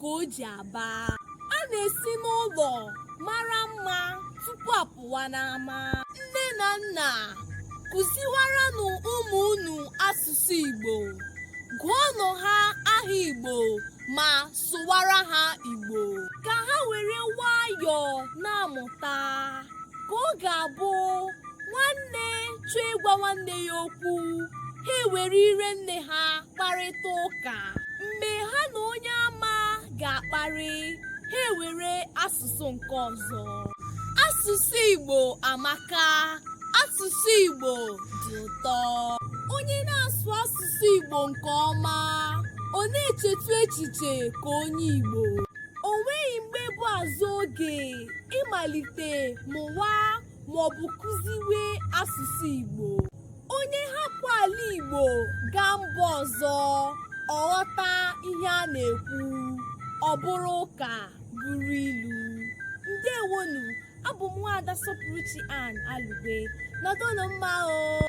ka o ji aba a na-esi n'ụlọ mara mma tupu a pụwa n'ama nne na nna kụziwaranụ ụmụ unu asụsụ Igbo gụọnụ ha aha Igbo ma sụwara ha Igbo ka ha were nwayọọ na-amụta ka ọ ga-abụ nwanne chọọ ịgwa nwanne ya okwu ha ewere ire nne ha kparịta ụka mgbe ha na onye ama ga-akparị ha ewere asụsụ nke ọzọ asụsụ Igbo amaka asụsụ Igbo dị ụtọ onye na-asụ asụsụ Igbo nke ọma ọ na-echetu echiche ka onye Igbo o nweghị mgbe bụ azụ oge ịmalite mụwa maọbụ kụziwe asụsụ Igbo onye hapụ ala Igbo gaa mba ọzọ ọ ghọta ihe a na-ekwu ọ bụrụ ụka bụrụ ilu ndewonụ abụ m nwaada Sọpụrụchi Ann Alugbe nọdụnụ mma o